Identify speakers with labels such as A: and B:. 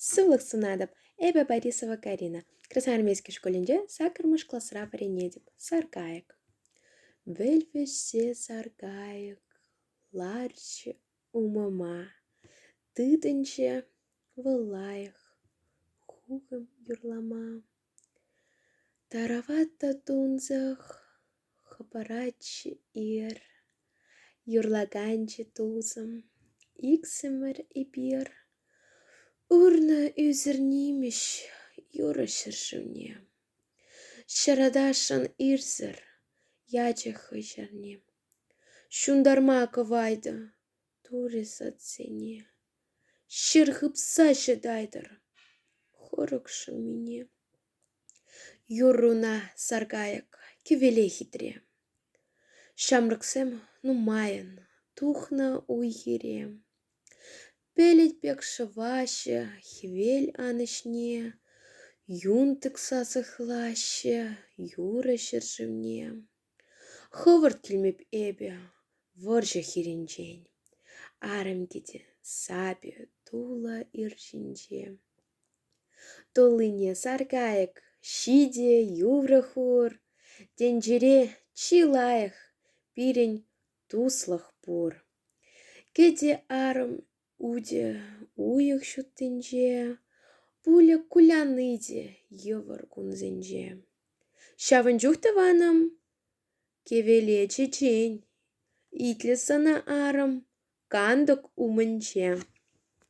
A: Сывлӑх сунатӑп. Эпӗ Борисова Карина. Красноармейски шкулӗнче саккӑрмӗш класра вӗренетӗп. Саркайӑк. Вӗлвӗҫсе саркайӑк ларчӗ умӑма. Тытӑнчӗ вӑл лайӑх хухӑм юрлама. Тарават та тунсӑх хӑпарать-ир, юрлаканчи тусӑм, иксӗмӗр эпир. Урнӑ ӳсӗр нимӗҫ юрӑ ҫӗршывне. Ҫаратасшӑн ирсӗр ячӗ хӑй ҫӗрне. Ҫунтарма кӑвайтӑ Турӗ садсене ҫӗр хыпса ҫӑтайтӑр хӑрӑк шӑмине. Юрруна саркайӑк кӗвеле хитре. Ҫамрӑксем нумайӑн тухнӑ уй-хире. Пелӗт пек шӑваҫҫӗ хӗвел анӑҫне. Юн тӑкса сыхлаҫҫӗ юрӑ ҫӗршывне. Хӑвӑрт килмеп эпӗ вӑрҫӑ хирӗнчен, Арӑм кӗтӗ сапӗ тулӑ ир ҫинче. Туллине сар кайӑк ҫитӗ юрӑ хур, Тӗнчере чи лайӑх пирӗн туслӑх пур. Кӗтӗ арӑм Утӗ уйӑх ҫуттинче, пулӗ куляни те йывӑр кунсенче. Ҫавӑн чух тӑванӑм кӗвеле чечен, итлӗ сана арӑм кантӑк умӗнче.